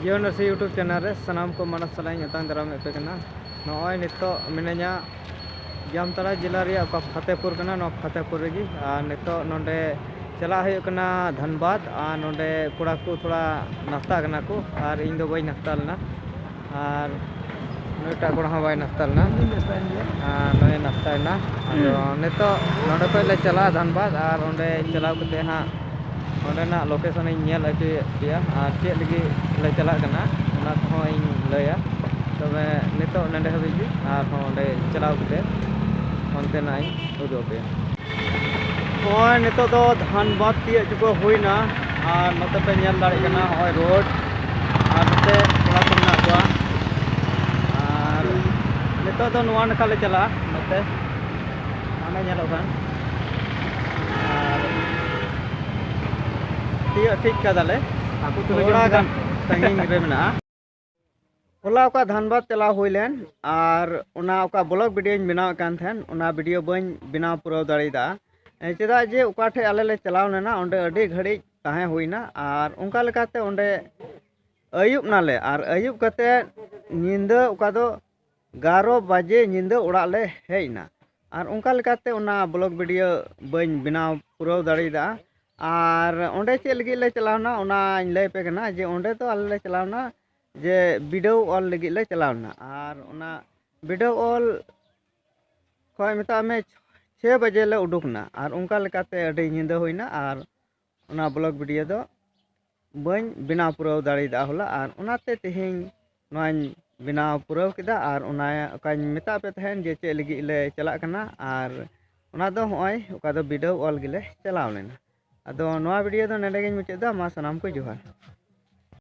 ᱡᱤᱭᱚ ᱱᱟᱨᱥᱤ YouTube channel ᱨᱮ ᱥᱟᱱᱟᱢ ᱠᱚ ᱢᱟᱱᱚᱛ ᱥᱟᱞᱟᱜ ᱤᱧ ᱟᱛᱟᱝ ᱫᱟᱨᱟᱢᱮᱫ ᱯᱮ ᱠᱟᱱᱟ ᱱᱚᱜᱼᱚᱭ ᱱᱤᱛᱚᱜ ᱢᱤᱱᱟᱹᱧᱟ ᱡᱟᱢᱛᱟᱲᱟ ᱡᱮᱞᱟ ᱨᱮᱭᱟᱜ ᱚᱠᱟ ᱯᱷᱟᱛᱮᱯᱩᱨ ᱠᱟᱱᱟ ᱱᱚᱣᱟ ᱯᱷᱟᱛᱮᱯᱩᱨ ᱨᱮᱜᱮ ᱟᱨ ᱱᱤᱛᱚᱜ ᱱᱚᱰᱮ ᱪᱟᱞᱟᱜ ᱦᱩᱭᱩᱜ ᱠᱟᱱᱟ ᱫᱷᱟᱱᱵᱟᱫᱽ ᱟᱨ ᱱᱚᱰᱮ ᱠᱚᱲᱟ ᱠᱚ ᱛᱷᱚᱲᱟ ᱱᱟᱥᱛᱟᱜ ᱠᱟᱱᱟ ᱠᱚ ᱟᱨ ᱤᱧ ᱫᱚ ᱵᱟᱹᱧ ᱱᱟᱥᱛᱟ ᱞᱮᱱᱟ ᱟᱨ ᱱᱩᱭᱴᱟᱜ ᱠᱚᱲᱟ ᱦᱚᱸ ᱵᱟᱭ ᱱᱟᱥᱛᱟ ᱞᱮᱱᱟ ᱟᱨ ᱱᱩᱭᱮ ᱱᱟᱥᱛᱟᱭᱮᱱᱟ ᱟᱫᱚ ᱦᱩᱸ ᱱᱤᱛᱚᱜ ᱱᱚᱸᱰᱮ ᱠᱷᱚᱡ ᱞᱮ ᱪᱟᱞᱟᱜᱼᱟ ᱫᱷᱟᱱᱵᱟᱫᱽ ᱟᱨ ᱚᱸᱰᱮ ᱪᱟᱞᱟᱣ ᱠᱟᱛᱮᱫ ᱦᱟᱸᱜ ᱚᱸᱰᱮᱱᱟᱜ ᱞᱳᱠᱮᱥᱚᱱᱤᱧ ᱧᱮᱞ ᱦᱚᱪᱚᱭᱮᱫ ᱯᱮᱭᱟ ᱟᱨ ᱪᱮᱫ ᱞᱟᱹᱜᱤᱫ ᱞᱮ ᱪᱟᱞᱟᱜ ᱠᱟᱱᱟ ᱚᱱᱟ ᱠᱚᱦᱚᱸ ᱤᱧ ᱞᱟᱹᱭᱟ ᱛᱚᱵᱮ ᱱᱤᱛᱚᱜ ᱱᱚᱸᱰᱮ ᱦᱟᱹᱵᱤᱡ ᱜᱮ ᱟᱨᱦᱚᱸ ᱚᱸᱰᱮ ᱪᱟᱞᱟᱣ ᱠᱟᱛᱮᱫ ᱚᱱᱛᱮᱱᱟᱜ ᱤᱧ ᱩᱫᱩᱜ ᱟᱯᱮᱭᱟ ᱱᱚᱜᱼᱚᱭ ᱱᱤᱛᱚᱜ ᱫᱚ ᱫᱷᱟᱱᱵᱟᱫᱽ ᱛᱤᱭᱟᱹᱜ ᱪᱩᱠᱟᱹ ᱦᱩᱭᱱᱟ ᱟᱨ ᱱᱚᱛᱮ ᱯᱮ ᱧᱮᱞ ᱫᱟᱲᱮᱭᱟᱜ ᱠᱟᱱᱟ ᱱᱚᱜᱼᱚᱭ ᱨᱳᱰ ᱟᱨ ᱱᱚᱛᱮ ᱠᱚᱲᱟ ᱠᱚ ᱢᱮᱱᱟᱜ ᱠᱚᱣᱟ ᱟᱨ ᱱᱤᱛᱚᱜ ᱫᱚ ᱱᱚᱣᱟ ᱱᱟᱠᱷᱟ ᱞᱮ ᱪᱟᱞᱟᱜᱼᱟ ᱱᱚᱛᱮ ᱦᱟᱱᱮ ᱧᱮᱞᱚᱜ ᱠᱟᱱ ᱟᱨ ᱛᱤᱭᱟᱹᱜ ᱴᱷᱤᱠ ᱠᱟᱫᱟᱞᱮ ᱛᱷᱚᱲᱟ ᱜᱟᱱ ᱥᱟᱺᱜᱤᱧ ᱨᱮ ᱢᱮᱱᱟᱜᱼᱟ ᱦᱚᱞᱟ ᱚᱠᱟ ᱫᱷᱟᱱᱵᱟᱫᱽ ᱪᱟᱞᱟᱣ ᱦᱩᱭ ᱞᱮᱱ ᱟᱨ ᱚᱱᱟ ᱚᱠᱟ ᱵᱞᱚᱜ ᱵᱷᱤᱰᱤᱭᱳᱧ ᱵᱮᱱᱟᱣᱮᱫ ᱠᱟᱱ ᱛᱟᱦᱮᱱ ᱚᱱᱟ ᱵᱷᱤᱰᱤᱭᱳ ᱵᱟᱹᱧ ᱵᱮᱱᱟᱣ ᱯᱩᱨᱟᱹᱣ ᱫᱟᱲᱮᱭᱟᱫᱟ ᱪᱮᱫᱟᱜ ᱡᱮ ᱚᱠᱟ ᱴᱷᱮᱡ ᱟᱞᱮ ᱞᱮ ᱪᱟᱞᱟᱣ ᱞᱮᱱᱟ ᱚᱸᱰᱮ ᱟᱹᱰᱤ ᱜᱷᱟᱹᱲᱤᱡ ᱛᱟᱦᱮᱸ ᱦᱩᱭᱱᱟ ᱟᱨ ᱚᱱᱠᱟ ᱞᱮᱠᱟᱛᱮ ᱚᱸᱰᱮ ᱟᱹᱭᱩᱵ ᱱᱟᱞᱮ ᱟᱨ ᱟᱹᱭᱩᱵ ᱠᱟᱛᱮᱫ ᱧᱤᱫᱟᱹ ᱚᱠᱟ ᱫᱚ ᱮᱜᱟᱨᱚ ᱵᱟᱡᱮ ᱧᱤᱫᱟᱹ ᱚᱲᱟᱜ ᱞᱮ ᱦᱮᱡ ᱮᱱᱟ ᱟᱨ ᱚᱱᱠᱟ ᱞᱮᱠᱟᱛᱮ ᱚᱱᱟ ᱵᱞᱚᱜᱽ ᱵᱷᱤᱰᱭᱳ ᱵᱟᱹᱧ ᱵᱮᱱᱟᱣ ᱯᱩᱨᱟᱹᱣ ᱫᱟᱲᱮᱭᱟᱫᱟ ᱟᱨ ᱚᱸᱰᱮ ᱪᱮᱫ ᱞᱟᱹᱜᱤᱫ ᱞᱮ ᱪᱟᱞᱟᱣ ᱮᱱᱟ ᱚᱱᱟᱧ ᱞᱟᱹᱭ ᱟᱯᱮ ᱠᱟᱱᱟ ᱡᱮ ᱚᱸᱰᱮ ᱫᱚ ᱟᱞᱮ ᱞᱮ ᱪᱟᱞᱟᱣ ᱮᱱᱟ ᱡᱮ ᱵᱤᱰᱟᱹᱣ ᱚᱞ ᱞᱟᱹᱜᱤᱫ ᱞᱮ ᱪᱟᱞᱟᱣ ᱮᱱᱟ ᱟᱨ ᱚᱱᱟ ᱵᱤᱰᱟᱹᱣ ᱚᱞ ᱠᱷᱚᱱ ᱢᱮᱛᱟᱜ ᱢᱮ ᱪᱷᱚᱭ ᱵᱟᱡᱮ ᱞᱮ ᱩᱰᱩᱠ ᱮᱱᱟ ᱟᱨ ᱚᱱᱠᱟ ᱞᱮᱠᱟᱛᱮ ᱟᱹᱰᱤ ᱧᱤᱫᱟᱹ ᱦᱩᱭ ᱮᱱᱟ ᱟᱨ ᱚᱱᱟ ᱵᱞᱚᱜᱽ ᱵᱷᱤᱰᱤᱭᱳ ᱫᱚ ᱵᱟᱹᱧ ᱵᱮᱱᱟᱣ ᱯᱩᱨᱟᱹᱣ ᱫᱟᱲᱮᱭᱟᱫᱟ ᱦᱚᱞᱟ ᱟᱨ ᱚᱱᱟᱛᱮ ᱛᱮᱦᱮᱧ ᱱᱚᱣᱟᱧ ᱵᱮᱱᱟᱣ ᱯᱩᱨᱟᱹᱣ ᱠᱮᱫᱟ ᱟᱨ ᱚᱱᱟ ᱚᱠᱟᱧ ᱢᱮᱛᱟᱫ ᱯᱮ ᱛᱟᱦᱮᱱ ᱡᱮ ᱪᱮᱫ ᱞᱟᱹᱜᱤᱫ ᱞᱮ ᱪᱟᱞᱟᱜ ᱠᱟᱱᱟ ᱟᱨ ᱚᱱᱟ ᱫᱚ ᱦᱚᱸᱜᱼᱚᱭ ᱚᱠᱟ ᱫᱚ ᱵᱤᱰᱟᱹᱣ ᱚᱞ ᱜᱮᱞᱮ ᱪᱟᱞᱟᱣ ᱞᱮᱱᱟ ᱟᱫᱚ ᱱᱚᱣᱟ ᱵᱷᱤᱰᱤᱭᱳ ᱫᱚ ᱱᱚᱸᱰᱮ ᱜᱤᱧ ᱢᱩᱪᱟᱹᱫ ᱮᱫᱟ ᱢᱟ ᱥᱟᱱᱟᱢ ᱠᱚ ᱡᱚᱦᱟᱨ